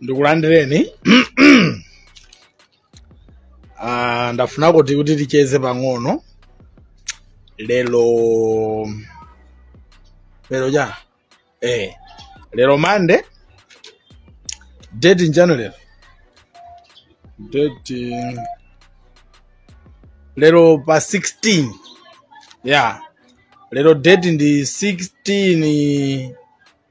ndikulandireni Ah, ndafuna kuti kuti ticheze pang'ono lero lero ja eh lero mande date nchani lero date lero pa 16 yeah lero date ndi 16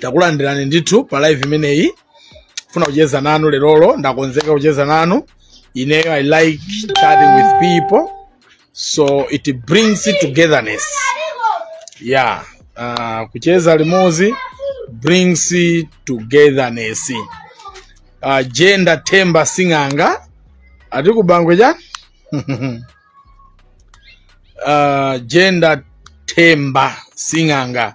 takulandirani ndithu pa live imeneyi funa kucheza nanu lerolo ndakonzeka kucheza nanu ineyo i like chatting with people so it brings togetherness yeah uh, kucheza limozi brings togetherness uh, jenda themba sing'anga ati kubangwe chani uh, jenda themba sing'anga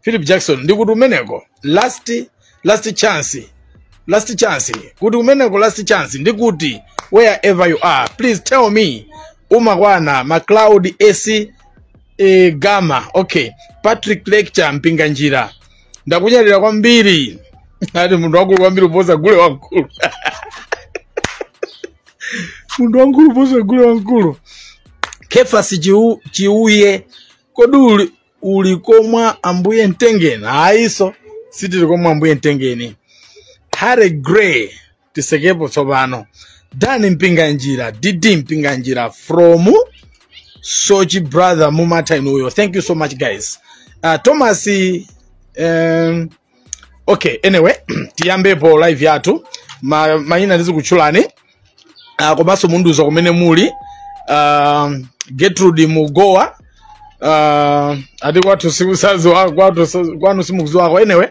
philip jackson ndikuti umeneko last last chance last chance kuti umeneko last chance ndikuti wherever you are please tell me umakwana macloud ace gama okay patrick lecture mpinganjira ndakunyadira kwambiri ati munthu wamkulu kwambiri uposa gule wamkulu munthu wamkulu uposa gule wamkulu kefasi Chiu- chiuye kodi uli- uli komwa ambuye mtengeni ayiso sitili komwa ambuye mtengeni harry gray tisekepo tsopano dani mpinganjira dd mpinganjira from sochi brother mumatha inuyo thank you so much guys uh, thomas um, okay anyway tiyambepo live yathu Ma- mayina ndizikutchulani uh, komanso mundiuze kumene muli uh, getrude mugowa uh, ati kwathu sikusazi wa- kwathu sa- kwanu simukuziwako anyway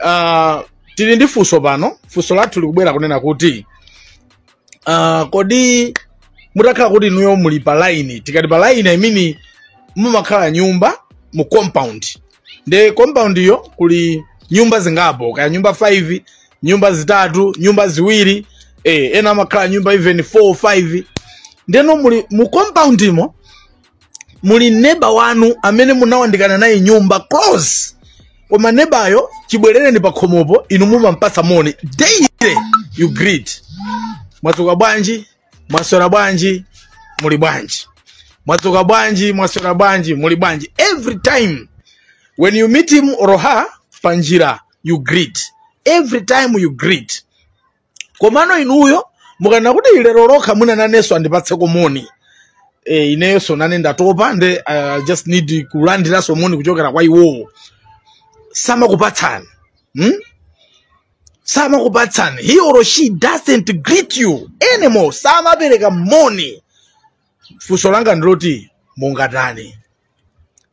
uh, tili ndi funso pano funso lathu likubwera kunena kuti uh, kodi mutakhala kuti inuyo muli pa line tikati pa line i mean mumakhala nyumba mu compound nde compound iyo kuli nyumba zingapo kaya nyumba 5 nyumba zitatu nyumba ziwiri eh, ena amakhala nyumba even 4 5 ndeno muli mu compound imo muli neba wanu amene munawandikana naye nyumba close koma nebayo chibwerereni pa khomopo inu mumampatsa moni daily you greet mwadzuka bwanji mwaswera bwanji muli bwanji mwadzuka bwanji mwaswera bwanji muli bwanji every time when you meet him or her panjira you greet every time you greet komano inuyo mukanena kuti ilero lokha mwina nanenso andipatseko moni e, ineyonso nane ndatopa nde i just need kulandiranso moni kuchokera kwa iwowo samakupatsani hmm? samakupatsani he or she doesn't greet you anymore samapereka moni funso langa ndiloti mungatani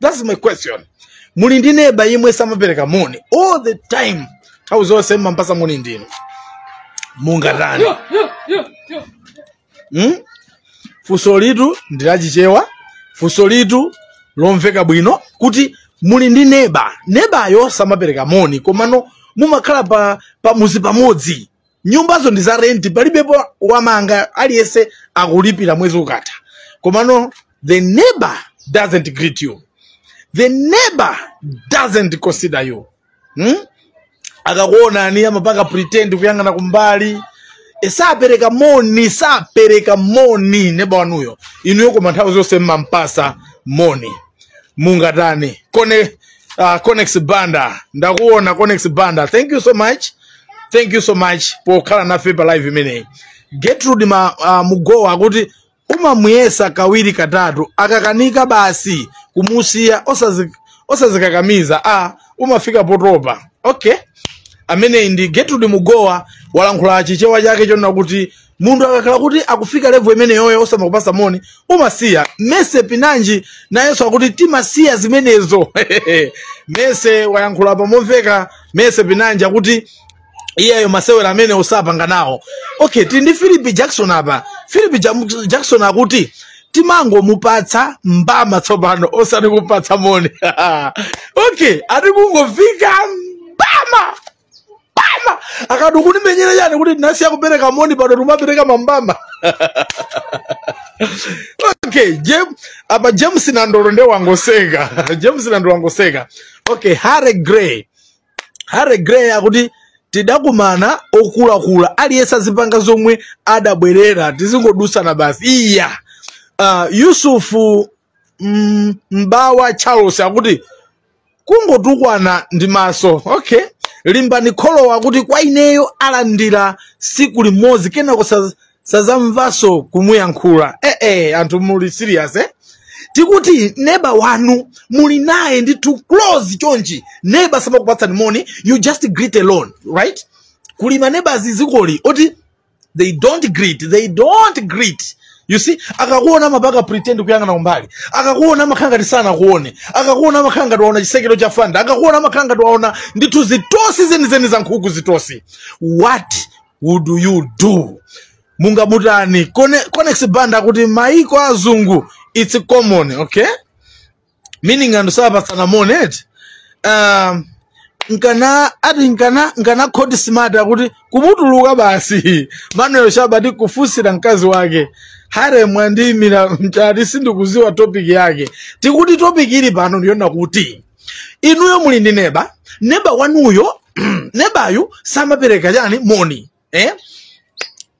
that's my question muli ndi neba yemwe samapereka moni all the time nthawi zonse mmampasa moni ndinu mungatani mm? funsolitu ndi la chichewa funsolitu lomveka bwino kuti muli ndi neba nebayo samapereka moni komano mumakhala pa pamuzi pamodzi nyumbazo ndi za renti palibepo wamanga aliyense akulipira mwezi ukatha komano the neighbor doesn't greet you the neighbor doesn't consider you hmm? akakuonani amapanga pretend kuyang'ana kumbali E, sapereka moni sapereka moni neba wanuyo inuyo koma nthawi zonse mmampasa moni mungatani Cone, uh, conex banda ndakuona conex banda thank you so much thank you so much pokhala nafe pa live imeneyi gertrude ma, uh, mugowa akuti umamuyesa kawiri katatu akakanika basi kumusiya osazi- osazikakamiza a umafika potopa okay ameneyi ndi getrude mugowa walankhula chichewa chake chonena kuti munthu akakhala kuti wakufika levo imeneyoyo osamakupasa moni umasiya mese pinanji nayenso akuti timasiya zimenezo mese walankhula pamomveka mese pinanji akuti iyeyo masewera amene sapanga nawo okay tili ndi philip jackson apa philip Jam- jackson akuti timangomupatsa mbama tsopano osati kupatsa moni okay ati kungofika mbama mbama akati ukundimenyera chani kuti tinasiya kupereka moni pano timapereka mambama okay Jam, apa james nandolo nde wangoseka james nandolo wangoseka okay harry gray harry gray akuti tidakumana okulakula aliyense azipanga zomwe adabwerera tizingodusana basi iya uh, yusufu mm, mbawa charles akuti kungotukwana ndi maso okay limbani kholowa akuti kwa ineyo alandira siku limodzi kenako sa- sazamvaso kumuyankhula eh, eh, anthu muli serious eh? tikuti neba wanu muli naye ndithu close chonchi neba samakupatsani moni you just greet alone right kuli maneba a zizikoli oti they don't greet they don't greet you see akakuona amapanga pretend kuyang'ana kumbali akakuona amakhala ngati sanakuone akakuona amakhala ngati waona chisekero cha fanda akakuona amakhala ngati waona ndithu zitosi zenizeni za nkhuku zitosi what would you do mungamutani Cone- conex banda akuti maiko azungu its common okay meaning anthu sapatsana moni eti um, nkana ati nkana nkana khoti smart akuti kumutuluka basi manuel shaba ndi kufunsira mkazi wake hare mwandiyimilira m'chat sindikudziwa topic yake tikuti topic ili pano ndiyona kuti inuyo muli ndi neba neba wanuyo nebayo samapereka chani moni eh?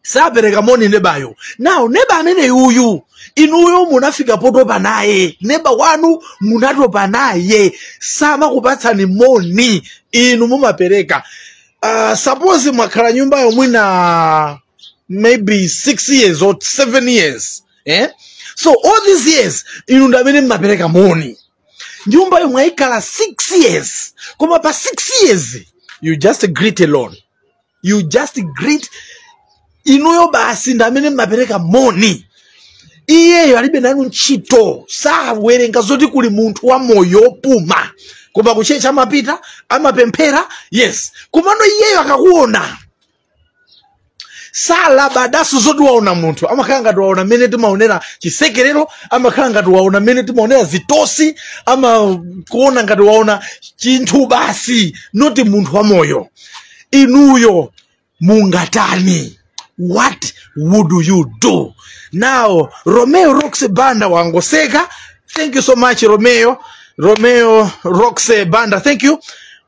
sapereka moni nebayo now neba ameneyu inuyo munafika potopa naye neba wanu munatopa naye samakupatsani moni inu mumapereka uh, suppose mwakhala nyumbayo mwina maybe six years or seven years eh? so all these years inu ndi amene mmapereka moni nyumbayo mwaikhala 6 years koma pa 6 years you just greet alone you just greet inuyo basi ndi amene mmapereka moni iyeyo alibe nanu ntchito sawerenga zoti kuli munthu wa moyo opuma koma kutchetchi amapita amapemphera yes komano iyeyo akakuona salabadaso zoti waona munthu amakhala ngati waona mmene timaonera chisekerero amakhala ngati waona mmene timaonera zitosi amakuona ngati waona chinthu basi not munthu wamoyo inuyo mungatani what would you do now romeo rox banda wangoseka thank you so much romeo romeo rox banda thank you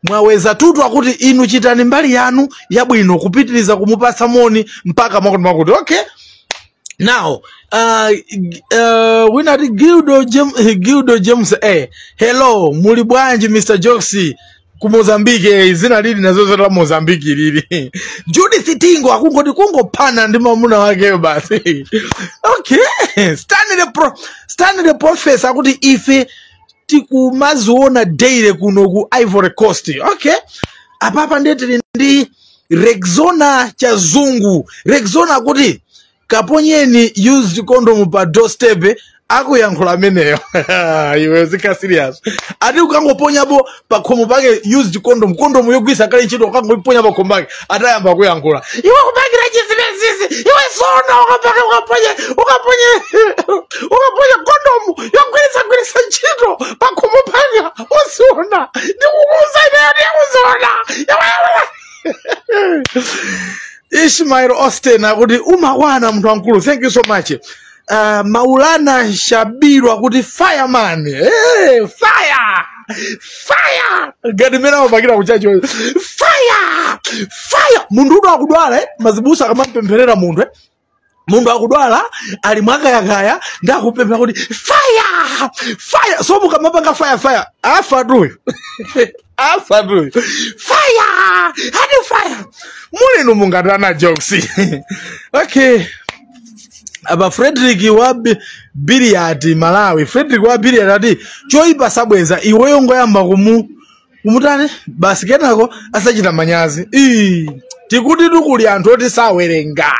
mwaweza tutu akuti inu chitani mbali yanu yabwino kupitiriza kumupatsa moni mpaka mwakuti mwakuti okay now uh, g- uh, wina akuti gildo, Jem, gildo james a hello muli bwanji mr joxy ku mozambiki eh, dzina lili nazozo la mozambiki lili judith tingo akunoti kungophana ndi mamuna wakeyo basi okay stanley pro, stanley profesa akuti ife tikumadziona daily kuno ku ivory coast okay apapa ndiye tili ndi rexona chazungu rexona akuti kaponyeni used condom pa doorstep akuyankhula ameneyo iweyo zikhala serious ati ukangoponyapo pakhomo pake used condom condom yogwirisa kale ntchito ukangoiponya pakhomo pake atayamba kuyankhula iwe kupangira chizimezime iwe sona ukapo ukaponye ukaponye ukaponye condom yogwirisa gwirisa ntchito pakhomo pake uziona ndikukuuza ineyo udzaziona iwe Ismail Austin akuti umakwana munthu wamkulu thank you so much uh, Maulana Shabiru akuti fireman hey, fire fire ngati mmene amapangira kutchalitchi fire fire munthu uti akudwala eh? mazibusa akamapempherera munthu eh? munthu akudwala ali mwakayakaya ndiye akupemphera kuti fire fire so mukamapanga fire fire afa tuyo afa tuyo fire ati fire mulimo mungatani jokes okay apa frederick wa Bi- Biliati malawi frederick wa Biliati ati choipa sabweza iweyo ingoyamba kumu kumutani basi kenako asachita manyazi Ii, tikuti tikuli anthu oti sawerenga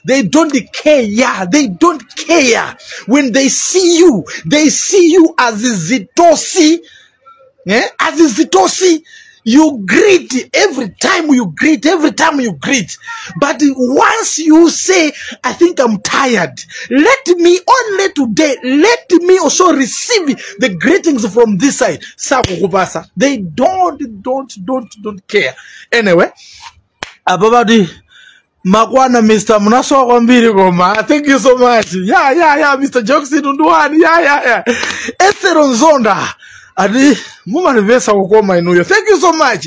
they don't care yeah, they don't care when they see you they see you as zitosi eh? as zitosi you greet every time you greet every time you greet but once you say i think i'm tired let me only today let me also receive the greetings from this side sakukupasa they don't don't don't don't care anyway apa pati makwana mr munasowa kwambiri koma thank you so much ya ya ya mr jokes tunduwani ya ya ya ethero nzonda ati mumanivesa kukoma inuyo thank you so much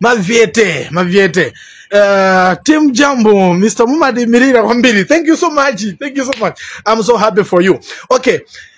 mavyete mavyete Uh, tim jambo mr mumadimirira kwambiri thank you so much thank you so much i'm so happy for you okay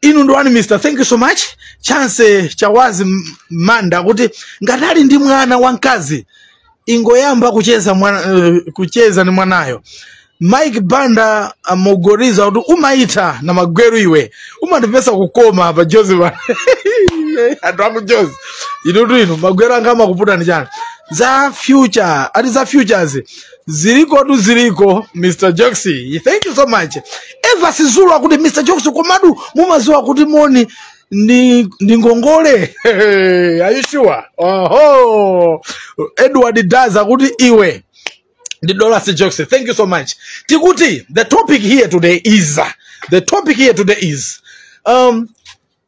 inu ndi wani mr thank you so much chance chawazi M- manda kuti ngati ali ndi mwana wamkazi ingoyamba kucheza mwana, eh, kucheza ni mwanayo mike banda angouza kuti umaitha na mangweru iwe umatimvesa kukoma apa jozi pa- anthu aku jozi inutu inu mangweru anga amakupatsani chani za future ati za futures ziliko tu ziliko mr joxy thank you so much eva Sizulu akuti mr joxy komatu mumaziwa kuti moni ndi ndi ngongole are you sure oho Edward Daz akuti iwe ndi dola si joxy thank you so much tikuti the topic here today is the topic here today is um,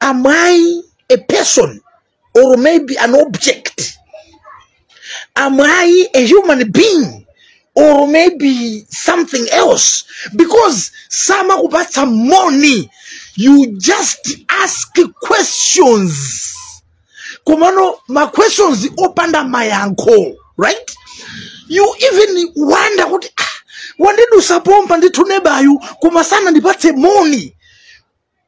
am i a person or maybe an object am i a human being or maybe something else because samakupatsa money you just ask questions komano ma questions opanda mayankho right you even wonder kuti ah, wandidusa pompa ndithu nebayu koma sanandipatse moni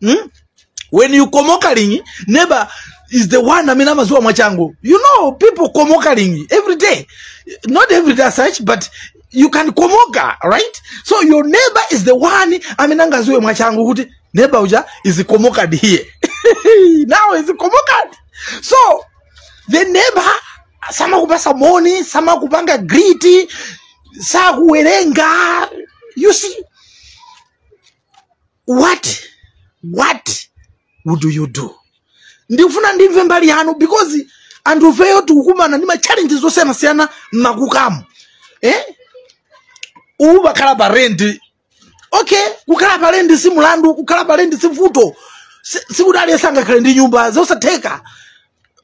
hmm? when you komoka lingi neba is the one amene amaziwa mwachangu you know people komoka lingi every day not every day as such but you can komoka right so your neighbor is the one amene angaziwe mwachangu kuti neighbor uja is komokad here now is komokad so the neighbor samakupasa moni samakupanga griti sakuwerenga you see what what would you do ndikufuna ndimve mbali yanu because anthufeyo tikukumana ndi machallenges osiyanasiyana mmakukamu eh? uwu wakhala pa rendi okay kukhala pa rendi si mulandu kukhala pa rendi si vuto Si- sikuti aliyense angakhale ndi nyumba zosatheka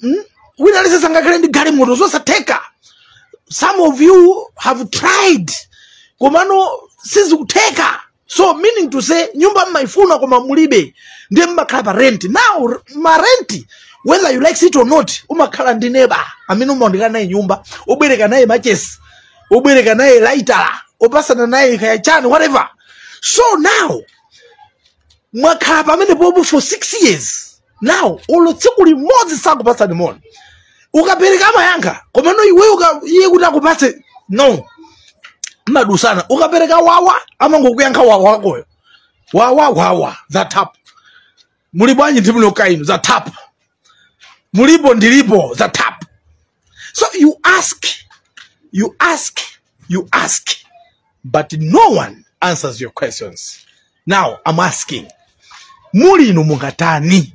Hmm? wina aliyense sangakhale ndi galimoto zosatheka some of you have tried komano sizikutheka so meaning to say nyumba mmaifuna koma mulibe ndiye mmakhala pa rent now ma rent whether you like it or not umakhala ndi neba amene umabwerekana naye nyumba umabwerekana naye machesi umabwerekana naye laitala umapasana naye kaya chani whatever so now mwakhala pamenepopo for six years nawo olo tsiku limodzi sakupatsani moni ukapereka amayankha komano iwe uka- iye kuti akupatse no mumadutsana ukapereka wawa amangokuyankha wawa akoyo wawa wawa za tap muli bwanji ndilipo kaya inu za tap mulipo ndilipo za tap So you ask, you ask, you ask, but no one answers your questions. Now I'm asking, muli inu mungatani?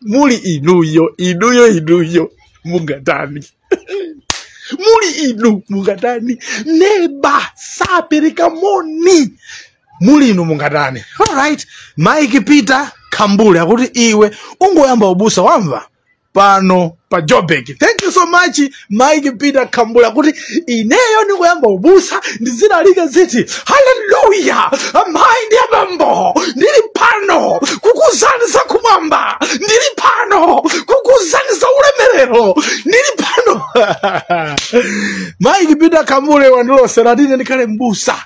Muli inuyo, inuyo, inuyo, mungatani? muli inu mungatani neba sapereka moni muli inu mungatani alright mike peter kambule akuti iwe ungoyamba ubusa wamva pano pa Joburg thank you so much mike peter kambule akuti ineyo ndikayambe ubusa ndizilalika ndiziti haleluya amayi ndi abambo ndili pano kukuuzani za kumwamba ndili pano kukuuzani za ulemerero ndili pano mike peter kambule wandilosera kuti ine ndikhale mbusa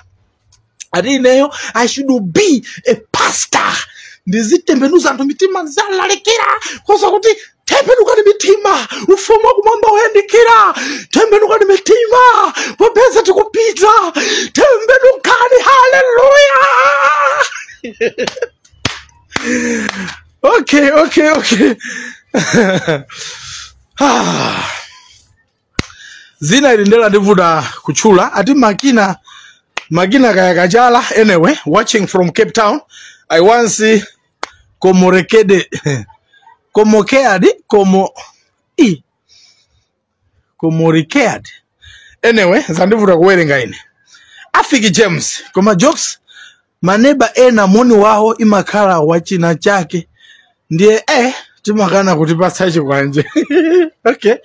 ati ineyo i should be a pastor ndizitembenuza anthu mitima ndizilalikira koopsa kuti tembenukani mitima ufumu wakumwamba wayandikira tembenukani mitima popeza tikupita tembenukani haleluya okay okay okay Ah. dzina ili nde landivuta kutchula ati makina makina kaya kachala anyway watching from cape town i once komorekede komokead komo i komorikead anyway zandivuta kuwerenga ine afiki james koma jokes maneba ena moni wawo umakhala wa chinachake ndiye eh timakanana kutipatsa chikwanje okay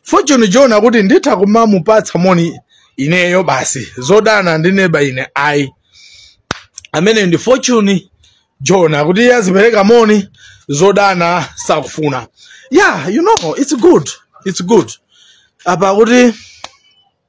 fortune john akuti nditha kumamupatsa moni ineyo basi zodana ndi neba ine ayi amene ndi fortune john akuti iye azipereka moni zodana sakufuna yeah you know it's good it's good apa akuti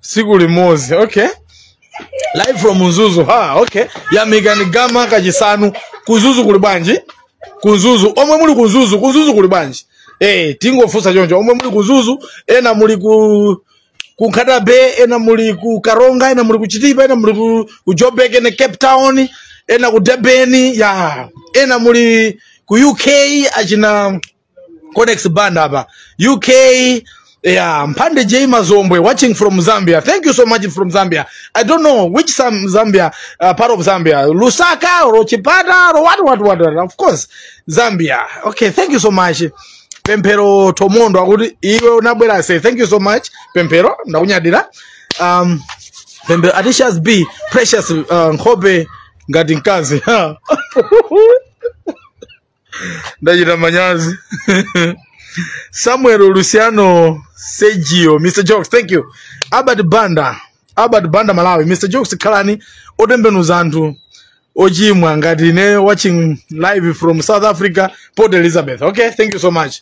tsiku limodzi okay live from mzuzu ha okay yamikani gama kachisanu ku Mzuzu kuli bwanji ku Mzuzu omwe muli ku Mzuzu ku Mzuzu kuli bwanji eh tingofunsa choncho omwe muli ku Mzuzu ena muli ku ku Nkhata Bay ena muli ku Karonga ena muli ku Chitipa ena muli ku, ku Joburg ena Cape Town ena ku Durban ya ena muli ku UK achina codex banda pa uk yeah mphande j mazombwe watching from zambia thank you so much from zambia i don't know which zambia uh, part of zambia lusaka or chipata or what what what what? of course zambia okay thank you so much pemphero tomondo akuti iwe unabwera say thank you so much pemphero ndakunyadira um pemphero atishas b precious uh, nkhope ngati mkazi ndachita manyazi samuel luciano sergio mr jokes thank you albert banda albert banda malawi mr jokes khalani otembenuza anthu ochimwa ngati ine watching live from south africa port elizabeth okay thank you so much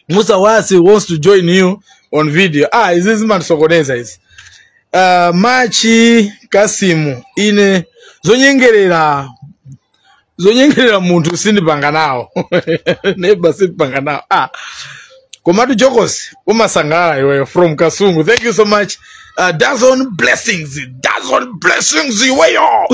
Musa Wasi wants to join you on video. Ah, izi zimandisokoneza izi? Uh, Machi Kasimu ine zonyengerera zonyengerera munthu sindipanga nawo neba sindipanga nawo ah komatu jokosi umasangalala iweyo from kasungu thank you so much Uh, dozen blessings, dozen blessings iweyo,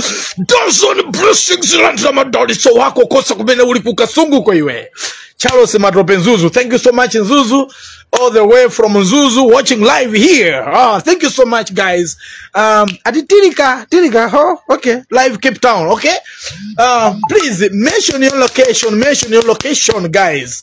dozen blessings landira madalitso wako kosa kumene uli kukasunguko iwe. Charles Matope Nzuzu, thank you so much Nzuzu, all the way from Nzuzu, watching live here. Ah, thank you so much guys. Um, ati Tirika, Tirika, oh, okay, live Cape Town, okay. Uh, please mention your location, mention your location guys.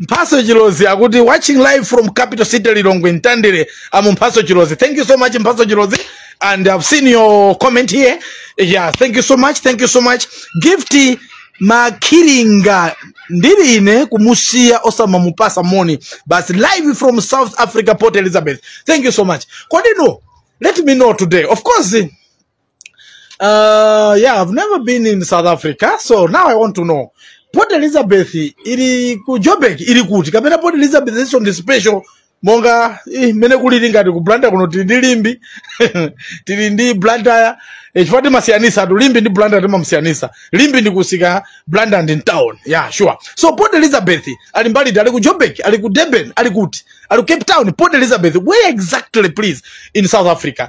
mphaso chilozi akuti watching live from capital city lilongwe ntandire amu mphaso chilozi thank you so much mphaso chilozi and i've seen your comment here yeah thank you so much thank you so much gift makiringa ndili ine kumusiya osamamupasa moni basi live from south africa port elizabeth thank you so much kodino let me know today of course Uh, yeah, I've never been in South Africa, so now I want to know. Port Elizabeth ili ku Joburg ili kuti kapena Port Elizabeth nso ndi special monga eh, mene kulili ngati ku Blantyre kuno tili ndi Limbe tili ndi Blantyre eh, chifukwa timasiyanitsatu Limbe ndi Blantyre timasiyanitsa Limbe ndi kumsika Blantyre ndi town yeah sure so Port Elizabeth ali mbali iti ali ku Joburg ali ku Durban ali kuti ali ku Cape Town Port Elizabeth where exactly please in South Africa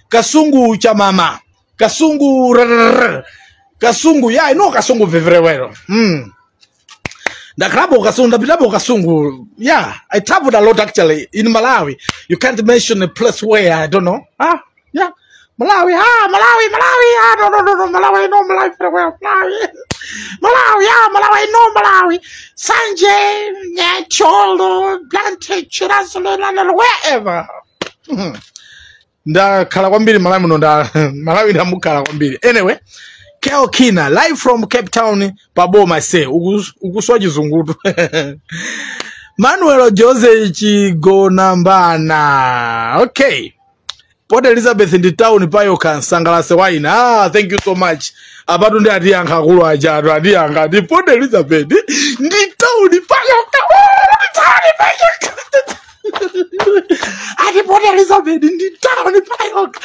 kasungu cha mama kasungu rrrr. kasungu yeah, i know kasungu very well mm. ndakhalapo kasungu ndapitapo kasungu yeah i traveled a lot actually in malawi you can't mention a place where i don't know ah yeah malawi ah malawi malawi ah no no no no malawi i know malawi very well malawi malawi ah malawi i know malawi sanje nyacholo blante chirasolo wherever Mhm. ndakhala kwambiri malawi muno nda malawi ndamukhala kwambiri anyway kel kina live from cape town pa boma ase ukus- ukuswa chizungutu manuel jose chigonambana okay port elizabeth ndi town payokha msangalatse waina ah, thank you so much apatu nde atiyankha akulu aja atu atiyankha ati port elizabeth ndi town payokha Oh, ndi town payo ka- ati port elizabeth ndi tawuni payokha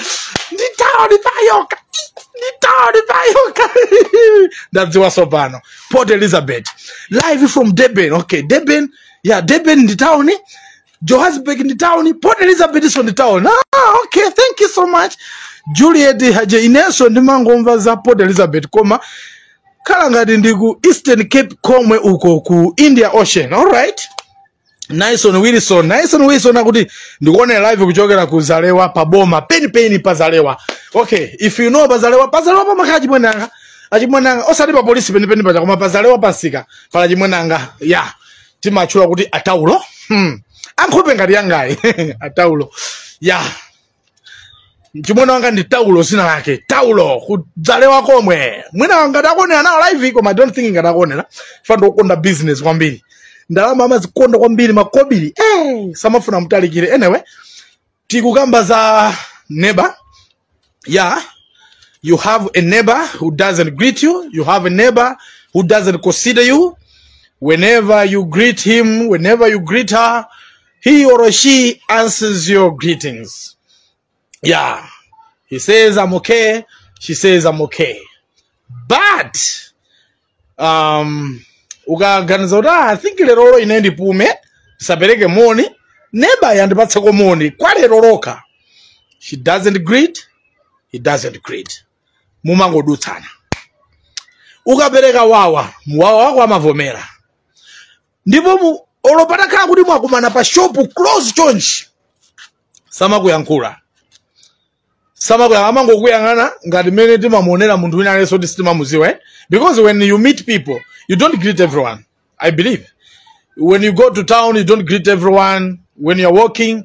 ndi tawuni payokha ndi tawuni payokha ndadziwanso pano port elizabeth live from durban okay durban yeah durban ndi tawuni johannesburg ndi tawuni port elizabethnso ndi tawuni ah, okay thank you so much juliet haje inenso ndimangomva za port elizabeth koma ikhala ngati ndi ku eastern cape komwe uko ku india ocean alright Nyson Wilson, Nyson Wilson akuti ndikuonera live kuchokera ku Zalewa pa boma peni peni pa Zalewa. Okay, if you know pa Zalewa, pa Zalewa pamakhala achimwene anga. Achimwene anga osati pa polisi peni peni paja koma pa Zalewa pa msika pali achimwene anga. Yeah. Timawatchula kuti ataulo. Hmm. Ankhope ngati yangayi. ataulo. Yeah. mchimwene wanga ndi taulo zina lake taulo ku Zalewa komwe mwina ngati akuonera nawo live koma I don't think ngati akuonera chifukwa ndikukonda business kwambiri ndalama amazikonda kwambiri makobiri eh, samafuna mtalikira anyway tikukamba za neba yeah you have a neighbor who doesn't greet you you have a neighbor who doesn't consider you whenever you greet him whenever you greet her he or she answers your greetings. Yeah. He says, I'm okay. She says, I'm okay. But, um, ukaganiza kuti "Ah, i think lerolo ine ndipume ndisapereke moni neba andipatseko moni kwa lero lokha she doesn't greet he doesn't greet mumangodutsana ukapereka wawa wawa wako amavomera ndipo mu- olo patakhala kuti mwakumana pa shopu close chonchi samakuyankhula samakuyankhula amangokuyang'ana ngati mmene timamuonera munthu wina aliyense kuti sitimamudziwa eh? because when you meet people you don't greet everyone i believe when you go to town you don't greet everyone when you're walking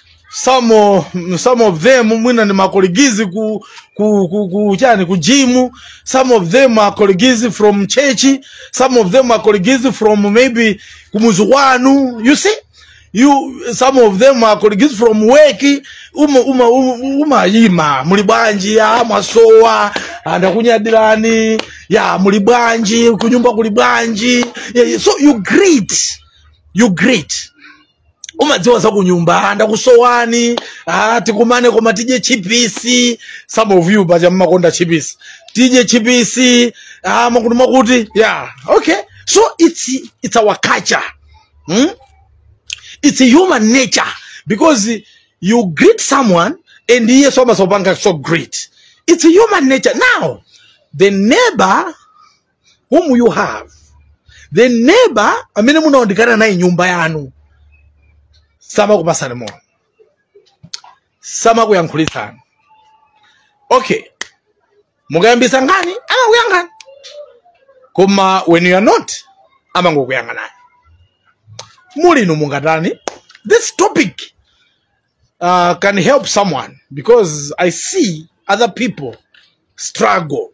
some of, some of them mwina ni makoligizi ku, ku, ku, ku chani ku gym some of them are colleagues from church some of them are colleagues from maybe kumudzi kwanu you see you some of them are colleagues from work uma uma umayima muli bwanji ya mwasowa ndakunyadirani ya muli bwanji kunyumba kuli bwanji yeah, yeah. so you greet you greet umadziwa za kunyumba ndakusowani ah, tikumane koma tidye chipisi some of you paja mmakonda chipisi tidye chipisi ah, makuti makuti yeah okay so it's, it's our culture hmm? it's human nature because you greet someone and iye so amasopanga so great it's human nature now the neighbor whom you have the neighbor amene munayandikana naye nyumba yanu samakupatsani moni samakuyankhulitsani okay mukayambisa nkhani amakuyang'ana koma when you are not amangokuyang'anani muli inu mungatani this topic uh, can help someone because i see other people struggle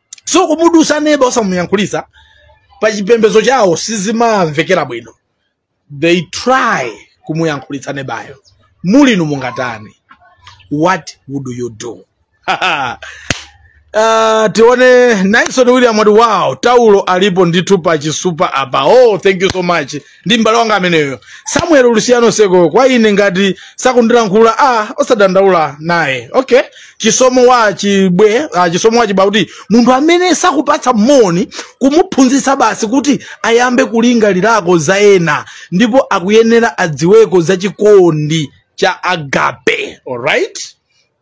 so kumudutsa neba osamuyankhulitsa pa chipembedzo chawo sizimamvekera bwino they try kumuyankhulitsa nebayo muli inu mungatani what would you do Uh, tione Nyson William wati wow taulo alipo ndithu pa chisupa apa oh thank you so much ndi m'bale wanga ameneyo samuel luciano seko kwa ine ngati sakundilankhula a osadandaula naye okay chisomo wa chibwe ah, chisomo wa chibwe akuti munthu amene sakupatsa moni kumuphunzitsa basi kuti ayambe kulingalirako za ena ndipo akuyenera adziweko za chikondi cha agape alright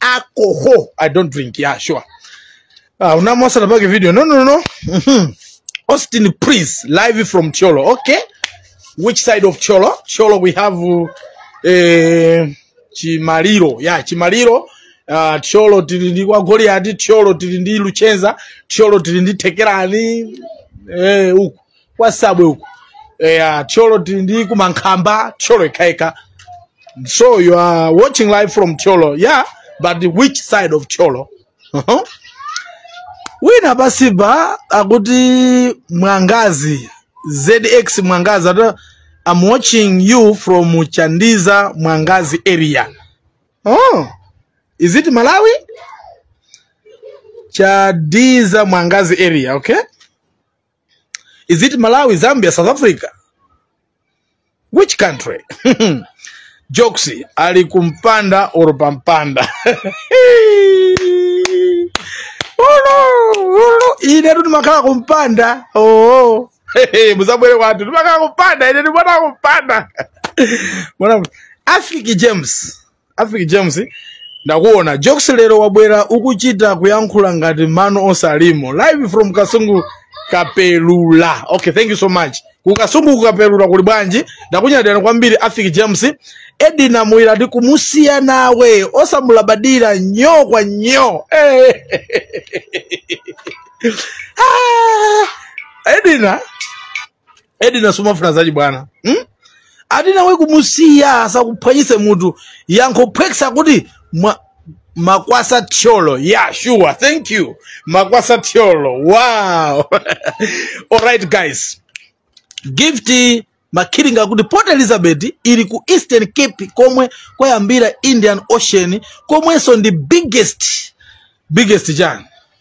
alcohol i don't drink yeah sure ah unamwasala pake video no no no Mhm. austin prince live from cholo okay which side of cholo cholo we have uh, eh, chimaliro yeah chimaliro uh, cholo tili ndi kwa goliati cholo tili ndi luchenza cholo tili ndi tekerani eh, uku kwa sabwe uku eya thyolo tili ndi Kumankhamba thyolo ikhaika so you are watching live from thyolo yeah but which side of thyolo uh-huh. wina pansipa akuti mwangazi zx mwangazi ati i'm watching you from chandiza mwangazi area um, is it malawi chandiza mwangazi area okay is it malawi zambia south africa which country jokes ali kumpanda or pampanda ulo ulo ine tu ndimakhala kumpanda oo muzabwere kwathu ndimakhala kumpanda ine ndimona kumpanda afiki james afiki james ndakuona jokes lero wabwera ukuchita kuyankhula ngati mano onse alimo live from kasungu kapelula okay thank you so much ku kasungu kukapelula kuli bwanji ndakunyadirani kwambiri afiki james edina muyira ati kumusiya nawe osamulabadira nyo kwa nyo Eh. Ah, edina edina sumafuna zachibwana hmm? ati nawe kumusiya asakuphwanyise mutu yankho phwekesa akuti mwa, makwasa thyolo yeah sure thank you makwasa thyolo wow alright guys gift makhiringa akuti port elizabeth ili ku eastern cape komwe kwayambira indian ocean komwenso ndi biggest biggest chani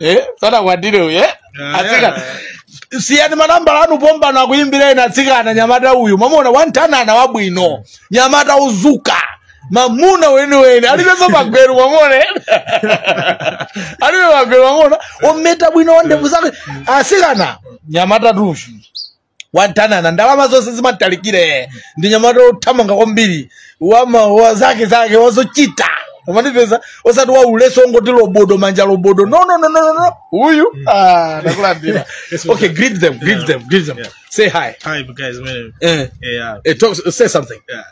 eh sanakwatire uyu eh atsikana siyani manambala anu pombano akuyimbira ena atsikana mnyamata uyu mamuna wantanana wabwino mnyamata uzuka mamuna weniweni alibenso magweru mumuone alibe magweru mamuna ometa bwino wandevu zake asikana mnyamatatu uyu wadanana ndalama zonse zimatalikire ndi nyamata othamanga kwambiri wama wa zake zake wazochita umanipeza osati wauleso ongoti lobodo manja lobodo no no no no no, no uyu ah ndakulandira okay greet them greet them greet them Yeah. say hi Hi, guys. My name. eh, Yeah. eh talk, say something Yeah.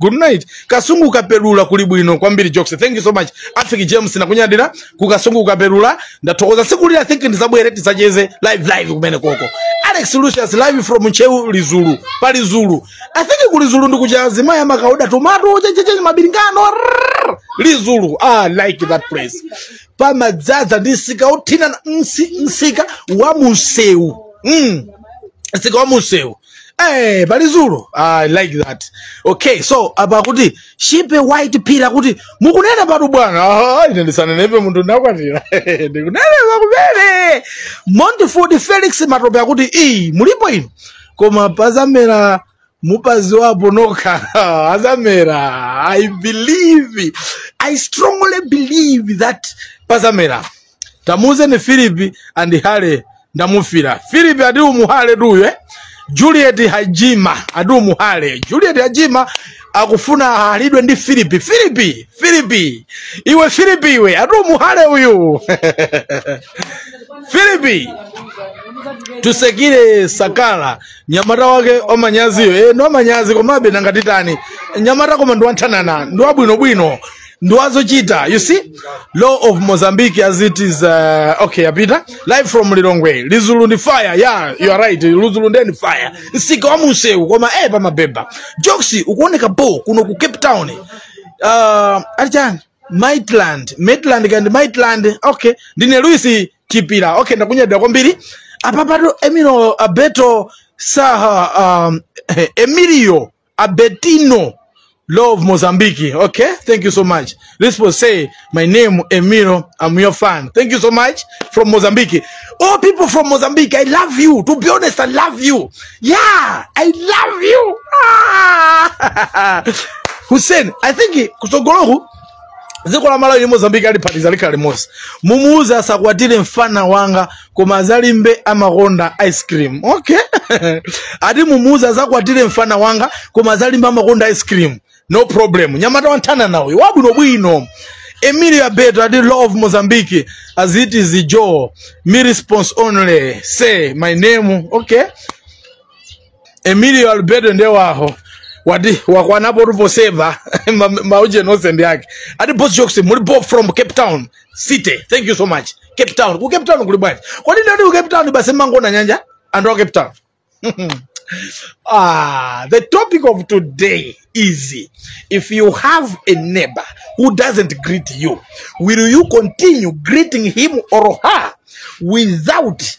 good night kasungu kukapelula kuli bwino kwambiri jokes thank you so much afiki james ndakunyadira ku kasungu kukapelula ndathokoza siku lina i think ndizabwere tizacheze live live kumene koko alex lucius live from ncheu lizulu pa lizulu i think ku lizulu ndikucha azimayi amakaoda tomato chenchechenye mabilingano rrrr, lizulu ah, I like that place pamadzadza ndi msika wothina na- msi- msika wa munsewu mm. msika wa munsewu Eh, pa Lizulu. I like that. Okay, so apa akuti shipe white phiri akuti mukunenepatu bwana. Ah, ine ndisanenepe munthu ndakwatira. Ndikunenepa kumene. Montford Felix Matope akuti iyi mulipo ino. Koma pazamera mupaziwapo nokha azamera i believe i strongly believe that pazamera tamuuzeni philip andihale ndamufira philip ati umuhale tuye eh? juliet hajima ati umuhale juliet hajima akufuna ahalidwe ndi philip philip philip iwe philip iwe ati umuhale uyu philip tusekire sakala nyamata wake wamanyaziyo e, ndi wamanyazi komabe nanga titani nyamata koma ndi wanthanana ndi wabwinobwino ndi wazochita you see law of mozambique as it is uh, okay apita life from lilongwe lizulu ndi fire yeah you are right lizulu ndiye ndi fire msika wa munsewu koma eh pamabeba jokes ukuoneka bo kuno ku cape town uh, alichani maitland maitland kandi maitland okay ndine luis chipira okay ndakunyadira kwambiri apapato emilio beto saha um, emilio Abetino Love Mozambique. Okay, thank you so much. This will say, my name Emiro. I'm your fan. Thank you so much from Mozambique. Oh, people from Mozambique, I love you. To be honest, I love you. Yeah, I love you. Ah! Hussein, I think he- kusogoloku dziko la malawi ndi mozambiki ali phatiza likhala limodzi mumuuze asakwatire mfana wanga koma azalimbe amakonda ice cream okay ati mumuuza azakwatire mfana wanga koma azalimbe amakonda ice cream no problem nyamata wanthana nawe wabwinobwino emilio abeto ati law of mozambique as it is the joe me response only say my name okay emilio alberto nde waho wati wakwanapo tuposeva ma- maujeni onse ndi ake ati boss jokes muli bo from cape town city thank you so much cape town ku cape town kuli bwanji kodi ndati ku cape town basi mangona nyanja anthu a cape town Ah, the topic of today is if you have a neighbor who doesn't greet you, will you continue greeting him or her without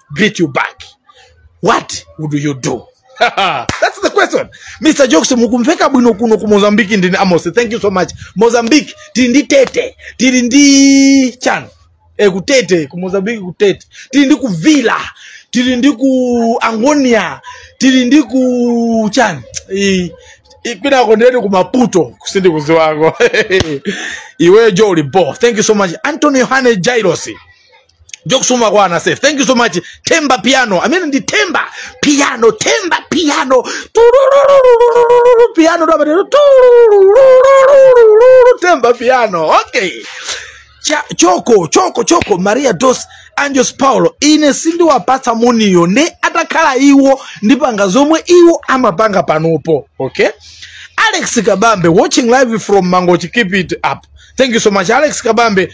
beat you back what would you do that's the question mr jokes mukumveka bwino kuno ku mozambique ndine amos thank you so much mozambique tili ndi tete tili ndi chani e, kutete ku mozambique kutete tili ndi kuvila tili ndi ku angonia tili ndi ku chani I- i- kwinako ndileti ku maputo sindikuziwako iwe jo ulipo thank you so much anthony yohane jairosi jokusuma kwana safe thank you so much temba piano amene ndi temba piano temba piano Tururururururu, piano ndo amene Tururururururu, temba piano okay Cha, choko choko choko maria dos anjos paulo ine sindiwapatsa muniyo nde atakhala iwo ndipanga zomwe iwo amapanga panopo okay alex kabambe watching live from mangochi keep it up thank you so much alex kabambe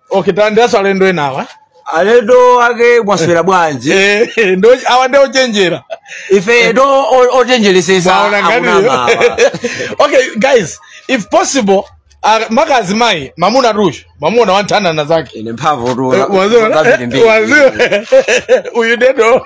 okay tandiyasa alendo enawa alendo ake mwaswera bwanji Eh, ndo- awa nde ochenjera ife to o- ochenjeresesa Mwaona akunama nganiyo? awa. okay guys if possible ah, mkazi mai mamuna tucho mamuna wanthanana zake ine mphamvu Eh, waziwa- waziwa- uyu dedo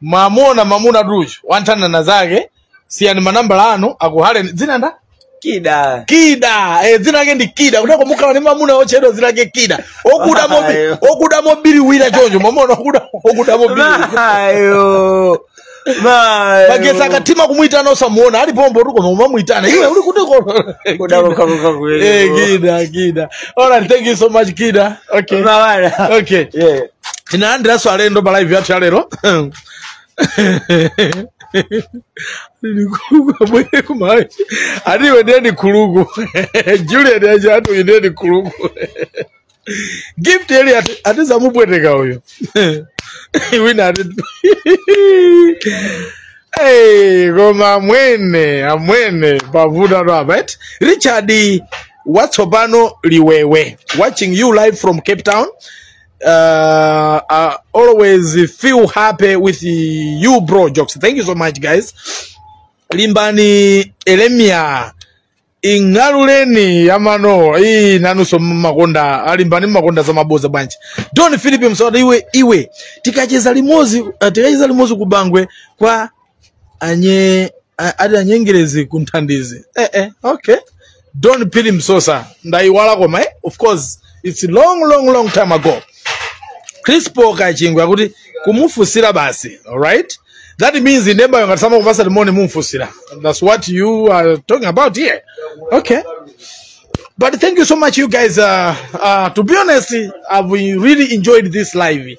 mwamuna mwamuna tucho wanthanana zake siyani manambala anu akuhaleni dzina nda kida kida eh, dzina lake ndi kida kuteroko mukhala ni mamuna otchedwa dzina lake kida okuda mobi Ayo. okuda mobiriwira choncho mwamuna okuda okuda mobiriwira mayo mayo magesa akathima kumuyitana osamuona ali pombo tuko nomamuyitana iwe uli kuti kono kudakokakoka kuwele Eh, kida kida all right thank you so much kida okay mawana okay yeah tinalandiranso alendo pa live yathu ya lero abwere kumalawi ati iwe ndiye ni khuluku juliet aja ati uyu ndiye ni khuluku gift eli ati- atizamupweteka uyu wina ati Hey, koma amwene amwene pavuta tu apa eti richard watsopano liwewe watching you live from cape town uh, I always feel happy with you bro jokes thank you so much guys limbani elemia ing'aluleni yamano iyi nanunso mmakonda alimbani mmakonda za maboza bwanji don philip msawata iwe iwe tikacheza limozi uh, tikacheza limozi kubangwe kwa anye a- ati anyengerezi ku nthandizi eh, eh, okay don pili msosa ndayiwala koma eh? of course its long long long time ago crispo kachingwe akuti kumufusira basi alright that means inembayo ngati samakupasa limoni mumfusira that's what you are talking about here okay but thank you so much you guys uh, uh, to be honest i've really enjoyed this live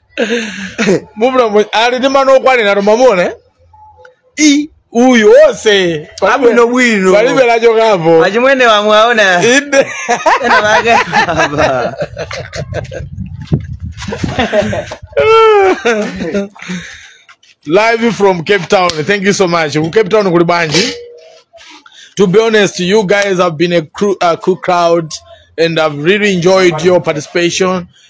mubula mu- ali ndi mano okwanira tomamuna i uyu onse Abwino bwino. palibe lachokapo achimwene wamwe aona inde ena vake apita life from cape town thank you so much ku cape town kuli bwanji to be honest you guys have been a, crew, a cool crowd and i've really enjoyed your participation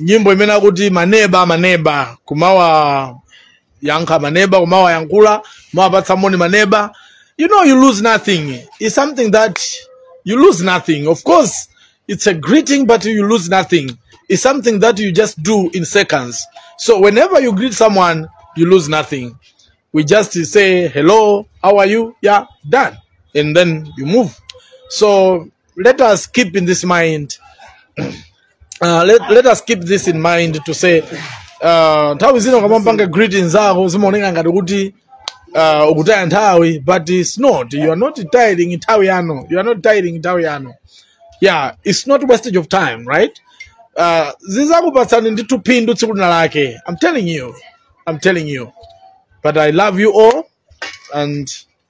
nyimbo imene akuti maneba maneba kumawa yankha maneba kumawa yankula kumawapatsa moni maneba you know you lose nothing it's something that you lose nothing of course it's a greeting but you lose nothing it's something that you just do in seconds so whenever you greet someone you lose nothing we just say hello how are you yeah done and then you move so let us keep in this mind uh, let, let us keep this in mind to say uh, nthawi zina ukamapanga greeting zako zimaoneka ngati kuti uh, ukutaya nthawi but it's not you are not taying nthawi yanu you are not taying nthawi yanu yeah it's not wastage of time right uh, zizakupatsani ndithu phindu tsiku lina lake i'm telling you i'm telling you but i love you all and